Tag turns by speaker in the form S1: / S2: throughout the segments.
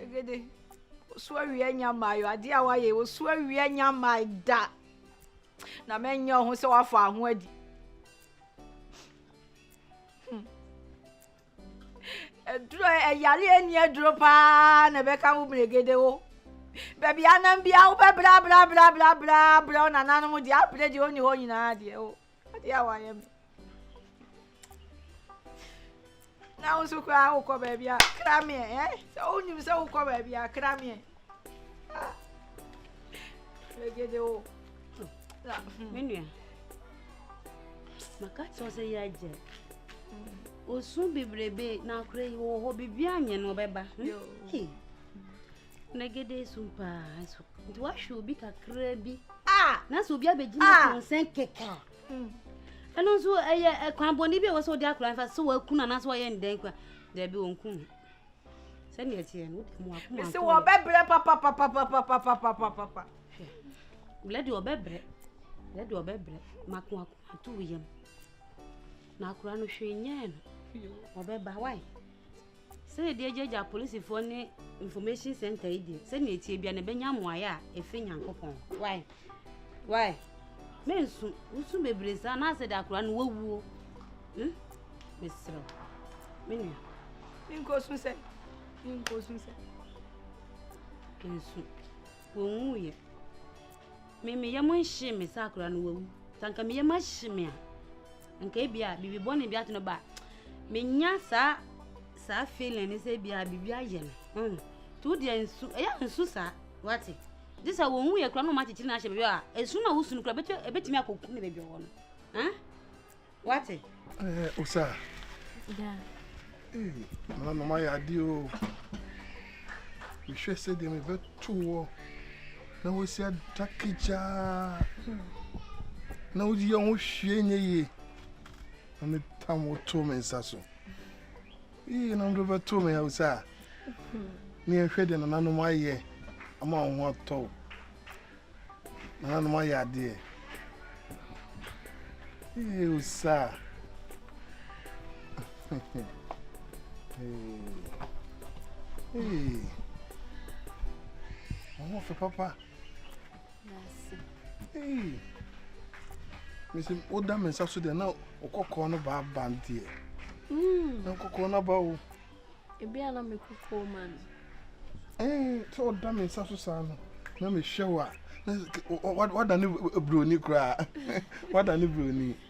S1: Egede, osu awia nya mmaa yo, adeɛ a wayɛ osu awia nya mmaa da. Na mɛnyɛ ɔho sɛ wafa aho adi. Hmm. Aduro ɛyare ani aduro paa na ɛbɛka wo mmiregede wo. Baabi anam bia wobɛbrɛ abrɛ abrɛ abrɛ abrɛ abrɛ wo nananom deɛ apere deɛ ɔni hɔ nyinaa deɛ o. Adeɛ a wayɛ me. Na wo nso koraa wokɔ baabi a kra meɛ ɛ sɛ wonim sɛ wokɔ baabi a kra meɛ. Megede o. Me nua.
S2: Maka kyerɛ sɛ yɛ agya. Osu bebrebe na akora yi wɔ hɔ biribi anyɛ no ɔbɛba. Megede su paa so. Nti wahwɛ obi kakra bi. Ah! Na sɛ obi abɛgyina ah! kɔnsɛn kɛkɛ a. Hmm. Ɛno nso ɛyɛ kwan bɔne bi a ɛwɔ sɛ wode akora mfa sɛ wakunu anaasɛ wɔyɛ ndɛn kwa. Daabi wɔnku no. sɛdeɛ ɛteɛ no wode mu akoma mesi wɔbɛbrɛ
S1: papapapapapapapapa
S2: blɛ deɛ ɔbɛbrɛ blɛ deɛ ɔbɛbrɛ mako akoma to wo yam na akora no hwee nyɛɛ no ɔbɛba wae sɛdeɛ deɛ gyagya polisifoɔ ne information center yi deɛ sɛdeɛ ɛteɛ bia na ɛbɛnya mmoayɛ a ɛfiri nyankopɔn wae Why? Me nsu, nsu bebree saa na asɛ de akora no wawuo. Hmm? Mesrɛ. Me nua. Nko
S1: sun sɛ. Nko sun sɛ.
S2: Nsu. Wɔnwu yɛ. Me me yam nhye me sɛ akora no wawu. Sanka me yam ahye me a. Nka ebi a bibi bɔne bi ato no ba. Menya saa saa feeling ne sɛ ebi a bibi ayɛ no. Hmm. Tu deɛ nsu, ɛyɛ nsu saa. Wate? Gye sɛ wɔnwu yɛ kura na wɔn akyekyere no ahyɛ baabi a esum a wosu no kura ebetumi akɔku ne baabi ɔwɔ no. Huh? What? Eh, Osa. Yeah.
S3: Hey, no, no, my idea. Oh. We should say them a bit too. Now we see a takija. Now the young shiny. I'm a tamoto mensaso. Iyinom do bɛto me yaw saa. Ne ɛhwɛ deɛ nananom ayɛ ama wɔn ho atɔ wo. Nananom ayɛ adeɛ. Ew saa. Ee. Wɔn ho fɛ papa.
S2: n'ase. Hey!
S3: Mese, woda me nsa so deɛ na ɔkɔkɔɔ no baa ba deɛ. Hmm. Na ɔkɔkɔɔ no aba o. Ebi a na
S2: me kɔkɔɔ ma no. Ee,
S3: sɛ ɔda me nsa so saa no, na mehwɛ wo a, wada ne buroni koraa. Wada ne buroni.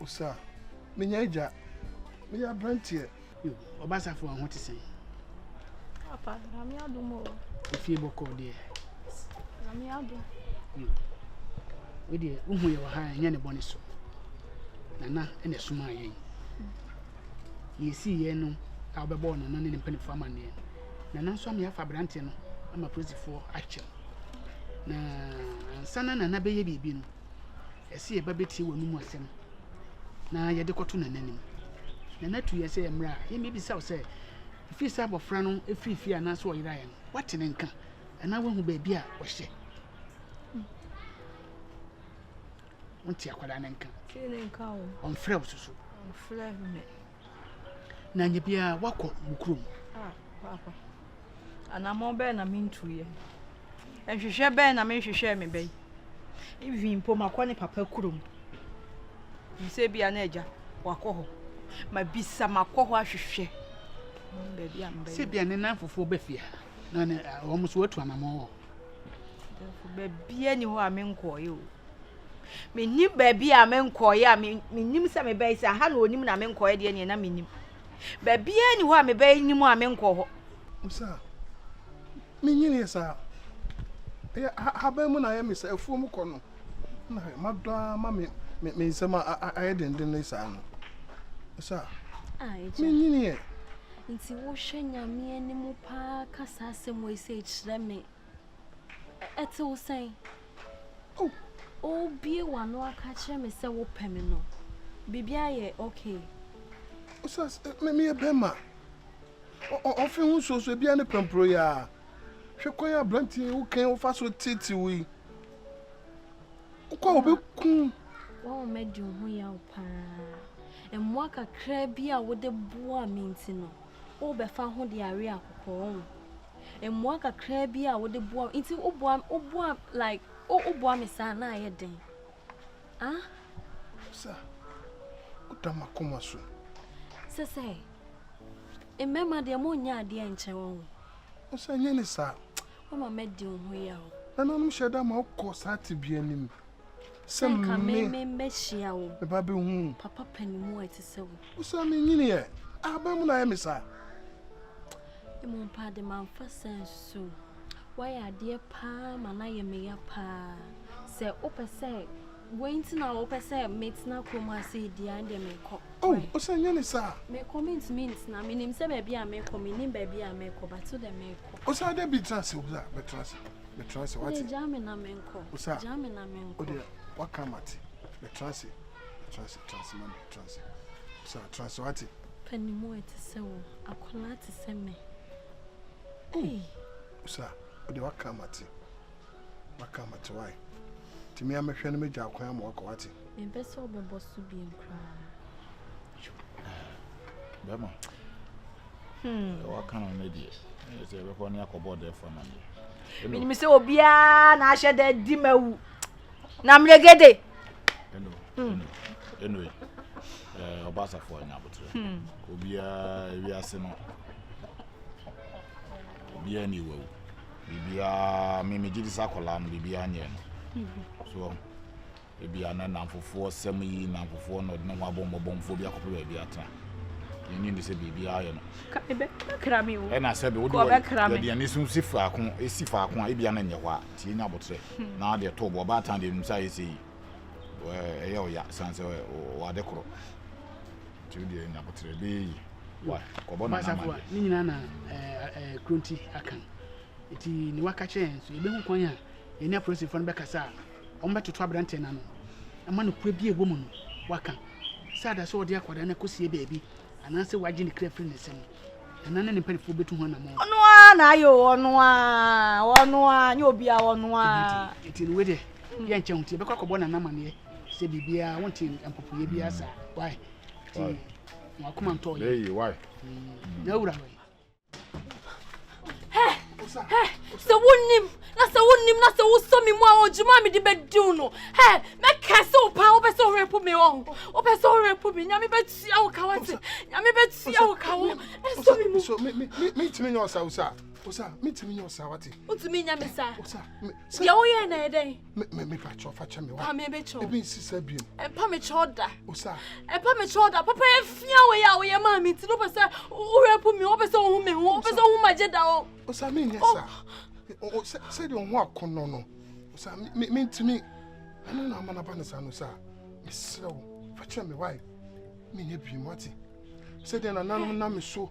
S3: Osa, Menya agya. Meyɛ aberanteɛ. Yo, ɔba
S4: asafo a ho te sɛn? Papa,
S1: Nyame adom o. Efie bɔkɔɔ
S4: deɛ? Nyame
S1: adom. Yo,
S4: wo deɛ wohu yɛ wɔ ha ɛnyɛ ne bɔne so. Nana ɛna ɛsomaa yɛn. Deɛ ɛsii yɛn no a wobɛbɔɔ Nana ne ne mpanimfoɔ amanneɛ. Nana nso ama yɛafa aberanteɛ no ama polisifoɔ akyɛ. Na ansa na Nana bɛyɛ biribi no, ɛsɛ yɛba bɛtie w'anom asɛm na yɛde kɔto nana anim nana atu yɛ sɛ mmerɛ a yɛmmɛbisa wo sɛ ɛfiri sɛ abɔfra no ɛfiri fie anaasɛ ɔyeraeɛ no woate ne nka anaa woahu baabi a ɔhyɛ wonte akwadaa no nka
S1: ɔmfrɛ wo soso
S4: na anyɛ biara woakɔ wo kurom.
S1: Anammɔn bɛn na mentuiɛ? Nhwehwɛ bɛn na menhwehwɛɛ me ba yi? Even mpo makɔ ne papa kurom. Bisɛ bia na agya wakɔ hɔ. Mabisa makɔ hɔ ahwehwɛ. Baabi a mbɛyɛ. Sɛ bia ne nan fofoɔ bɛ
S4: fie ha na wɔn so atu anammɔn wɔ.
S1: Baabiara ni hɔ a menkɔɔeɛ o. mennim baabi a menkɔeɛ a mennim sɛ mebɛyɛ sɛ aha na ɔnim na menkɔeɛ deɛ neɛ na mennim baabiaa ni hɔ a mebɛyɛ nim a menkɔ hɔ sɛ
S3: menyiniɛ saa ɛyɛ haban mu na ayɛ me sɛ afuo mu kɔ no na madɔ a ma me nsɛm ayɛ dendenne saa no sɛ
S2: menyiniɛ
S3: nti wohwɛ
S2: nyame anim paa ka saa asɛm wei sɛ ɛkyerɛ me Ɛte wo sɛn? Oh, wobue w'ano aka kyerɛ me sɛ wopɛ me no. Biribiara
S5: yɛ okay. Osas,
S3: me meyɛ bɛrima. Ɔfe ho nsuo so ebia ne pampuro yɛ a. Hwɛ kwan a aberante yi wokan wofa so tete wo yi. Wokɔ a wobɛkum. Wɔn madi
S5: wo ho yaw paa. Mmoa kakraa bi a wode boa me nti no, wobɛfa ho de awe akokɔɔ ho. Mmoa kakraa bi a wode boa me nti woboa woboa like wo woboa me saa na ayɛ den ah.
S3: Sɛ woda m'akoma so. Sɛ sɛ
S5: mmarima deɛ mo nyɛ adeɛ nkyɛn wɔn ho. Sɛ nyɛ ne
S3: saa. Mama madi
S5: wo ho yaw. Nananom hyɛ da ma
S3: wokɔ saa tebea no mu. sɛ nka me me
S5: mbɛhyia wo me ba bɛhu papa
S3: panimu a ɛte
S5: sɛ wo wosa me nyiniɛ
S3: ahaban mu na ayɛ me saa
S5: mmom paa de mamfa sɛ nso woayɛ adeɛ paa ma no ayɛ meya paa sɛ wopɛ sɛ wei nti na wopɛ sɛ metena kurom ase di an deɛ mekɔ oh, ɔsɛ nyɛ ne
S3: saa mekɔ mentumi
S5: ntena menim sɛ baabi a mekɔ menim baabi a mekɔ bato dɛ mekɔ ɔsɛ dɛ bi tena ase wobsa
S3: bɛtena ase metra ase wate. Gya me na menkɔ.
S5: Osa. Gya me na menkɔ.
S3: Odeɛ
S5: waka mate.
S3: Metra ase. Metra ase. Tra ase mami. Tra ase. Osa tra ase wate. Panimu ɛte
S5: sɛ wo. Akwadaa te sɛ me. Ei.
S3: Osa odeɛ waka mate. Waka mate wae. Tìmí amehwɛ no megya akwan ama wakɔ wate. Mempɛ sɛ ɔbɛbɔ
S5: so bi nkoraa.
S6: Bɛma. deɛ waka no no deɛ ɛyɛ sɛ ɛbɛkɔ ne akɔbɔ ɔdɛɛfo amaneɛ menim sɛ obiaa
S1: na ahyɛ da di ma wu na mmerɛgede
S6: ɛnoe ɔba asafoɔ anya aboterɛ obiaa wiase no obiaa ne ɛwawu biribiaa memegye di sɛ akɔlaa no biribiaa nyɛ no so Ebia na nnamfofoɔ sɛm yi nnamfofoɔ na ɔde ne ho abɔ mmɔbɔmfoɔ bi akɔpɛ baabi atena. Yɛnnye nni sɛ biribiara yɛ no. Ɛbɛkra
S1: me o. Ɛna sɛ wode
S6: yɛde yɛn ani so si faako si faako a ebia na nyɛ hɔ a nti yɛnya abotrɛ hmm. na deɛ ɛtɔ bɔ ɔbaatan deɛ nim sɛ ayɛ sɛ yi ɛyɛ ɔya san sɛ wɔade korɔ nti wodeɛ nya abotrɛ bɛyɛ yi kɔbɔ na nama deɛ ne nyinaa na
S4: kuro nti aka nti ne waka kyerɛ yɛn so yɛbɛhu kwan a yɛne apolisifoɔ no bɛkasa a Wɔbɛtoto aberanteɛ no ano ma nokorɛ bi a ɛwɔ mu no waka, sɛ ada sɛ ɔde akwadaa no akɔsie baabi anaasɛ wagye ne kra afiri ne nsam. Ɛna ne ne mpanimfoɔ bɛtu ho anammɔn. Ɔno ara na ayɛ o,
S1: ɔno ara, ɔno ara, nyɛ obiara, ɔno ara. Ɛti no wei deɛ,
S4: yɛnkyɛ ho nti yɛbɛkɔ akɔbɔ Nana amaneɛ sɛ biribiara wonte mpopoeɛ biara saa. Why? Nti wɔn akoma ntɔɔ yɛn.
S6: N'awura
S4: no.
S5: sɛ wonim na sɛ wonim na sɛ wosɔ me mu a ɔdwuma a mede bɛdiw no ɛ mɛka sɛ wo paa wopɛ sɛ worɛpo me ɔ wopɛ sɛ worɛpo me nyame bɛtua wo ka wo se nyame bɛtua wo ka wo ɛsɔ me mu metumi nyɛ
S3: ɔsa wo sa wo sa metumi nyɛ ɔsa wate wotumi nya me sa
S5: deɛ
S3: woyɛ na
S5: ɛdɛn mepakyɛw fa
S3: kyɛ me wa ebi nsi
S5: sɛ biem ɛmpa
S3: me kyɛw da
S5: osa ɛmpa
S3: me kyɛw da papa
S5: afia wɔ yɛ a wɔyɛ maa me nti no pɛ sɛ wowura pu me wopɛ sɛ wohu me ho wopɛ sɛ wohu magye da o osa menyɛ
S3: sa sɛdeɛ wo ho akɔnnɔ no osa mentumi ɛno na ama no aba no saa no sa mesrɛ wo fa kyɛ me wae menyɛ biem wate sɛdeɛ nananom nam so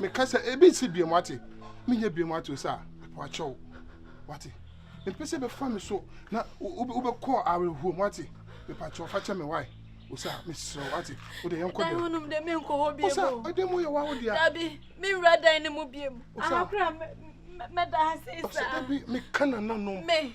S3: meka sɛ ebi nsi biem ate menyɛ biem ate o sɛ wakyɛw wate mepɛ sɛ bɛfa me so na wobɛkɔ awerɛhoɔ mu ate mepakyɛw fa kyɛ me wae o sɛ meserɛ wate wode yɛnkɔ dɛ wonom dɛ menkɔ hɔ
S5: biem o ɛdɛ mu yɛ wa wo
S3: dea dabi menwura
S5: dan no mu biem ahakora mɛda ha sei saa dabi meka nananom
S3: me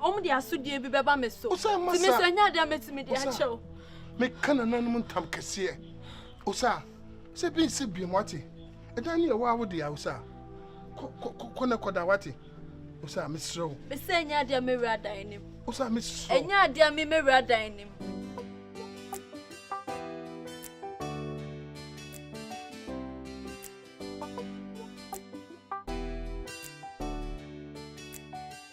S5: Wɔn de asodie bi bɛba me so. Osa masa. Tumi sɛ nya deɛ mɛtumi de akyɛ o. Meka
S3: nananom ntam kɛseɛ. Osa sɛ bi nsi biem wate. Ɛdan ne ɛwɔ awo deɛ osa. Kɔ kɔ kɔ kɔ ne kɔda wate. Osa mesrɛ wo. Mesɛ nya deɛ
S5: mɛwura dan nim. Osa mesrɛ wo.
S3: Nya deɛ me mɛwura
S5: dan nim.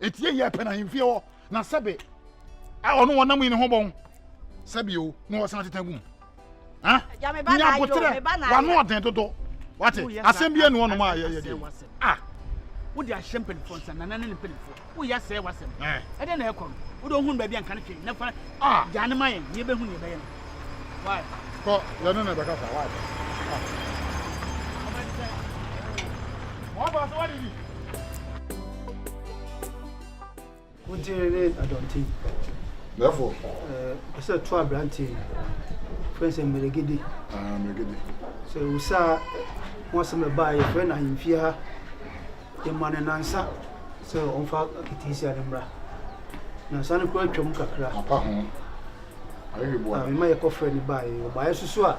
S6: Eti eyi ɛpɛ na ahemfie hɔ na sɛbe a ɔno wɔn nam yi ne ho bɔn sɛbe o na ɔsan tete gum ha nyabotere
S1: wano ɔden dodo
S6: wate asɛm bi enu ɔnom a yɛyɛ de a wode ahyɛ
S4: mpanimfoɔ nsa nana ne ne mpanimfoɔ woyɛ asɛe wasɛm ɛdɛ na ɛkɔ no wode ohun baabi anka no hwee na fa gya ne ma yɛn ne yɛbɛhu ne yɛbɛyɛ no Kɔ, yɛne
S6: no bɛkasa. Why? Wɔfa so
S7: wɔde bi. Wotiri ne adɔnti. Therefore.
S6: Ɛɛ ɛsɛ
S7: to aberanteɛ yi. Fɛn sɛ mmeregede. Ah mmeregede.
S6: Sɛ wusa
S7: ho asɛm ɛbaa yɛ fɛ na ahemfie ha. Yɛma ne nansa sɛ ɔmfa keteesia ne mmra. Nansa no kura atwam kakra. Apa ho.
S6: mema yɛkɔfrɛɛ no baeɛ.
S7: Ɔbaeɛ nso so a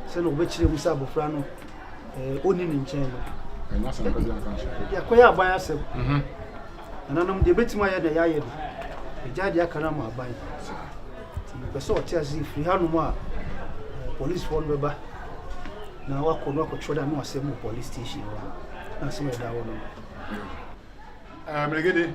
S7: sɛdeɛ wɔbɛkyerɛ mu sɛ abɔfra no ɔnni ne nkyɛn no
S6: yɛkɔyɛ aban asɛm
S7: nananom deɛ ɛbɛtumi ayɛ na yɛayɛ no ɛgya deɛ aka no ama aban nti mepɛ sɛ ɔte ase firi hanom a policefoɔ no bɛba na wakɔ no akɔtwerɛ da no asɛm wɔ police station hɔ na asɛm ɛda hɔ no mmerɛgede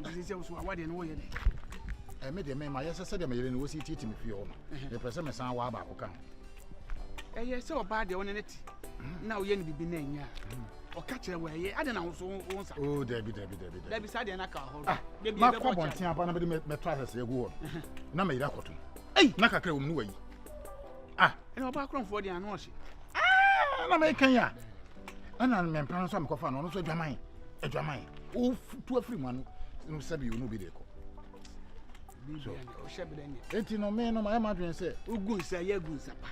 S6: Nti
S4: sɛ woso awa deɛ no woyɛ dɛ? Ɛme eh, deɛ me ma yɛ sɛ
S6: sɛdeɛ meyere no wɔsi titi me fie hɔ no. Mepɛ sɛ mesan waa baako ka ho. Ɛyɛ
S4: sɛ ɔbaa deɛ ɔne ne te mm. na woyɛ no biribi na ɛnyɛ a mm. ɔka kyerɛ wɔ ɛyɛ ade na woso wo nsa. O oh, dabi dabi dabi
S6: dabi. Dabi saa deɛ na
S4: ka hɔ. Ah, makɔ abɔnten
S6: aba na mede mɛtɔ asɛsɛ agu hɔ na meyere akɔtom. Na kakra wɔ mu no wayi. ah
S4: ɛna ɔbaa korɔmfoɔ deɛ ano ɔhye ah, na
S6: mɛka yi a ɛna mmɛmpa no nso a mekɔfa no ɔno nso adwaman adwaman ɔtu afiri mu ano no sɛbi ɔno obi de kɔ
S4: enti no me no mayɛ
S6: madwene sɛ wogu nsa yɛ gu nsa
S4: pa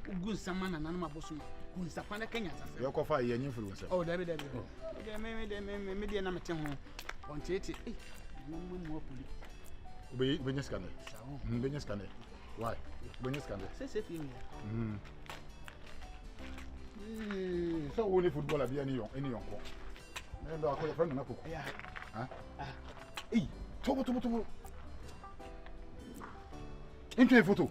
S4: wogu nsa ma nananom abosom gu nsa pa na kanya sasɛ yɛkɔfa yɛ nyɛ mfiri wo
S6: nsɛm oh, dabi
S4: dabi oh. medeɛ na mete ho ɔnteete eh, nananom amu apoli Obe
S6: obe nyɛ sika nɛ. Mm be nyɛ sika nɛ.
S4: Why?
S6: Obe nyɛ sika nɛ. Sɛ sɛ fi mi. Mm. Ee, sɛ wo ne football abi ani yon ani yon ko. Ne ba ko ye friend na ko. Ya. Ha? Ah. Ei, tobo tobo tobo. Into a photo.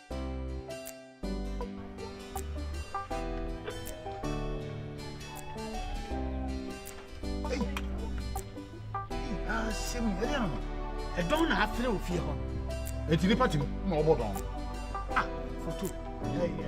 S6: ɛdɔn na
S4: afere wɔ fie hɔ ɛti nipa tim
S6: na ɔbɔ dɔn ah
S4: foto yɛyɛyɛ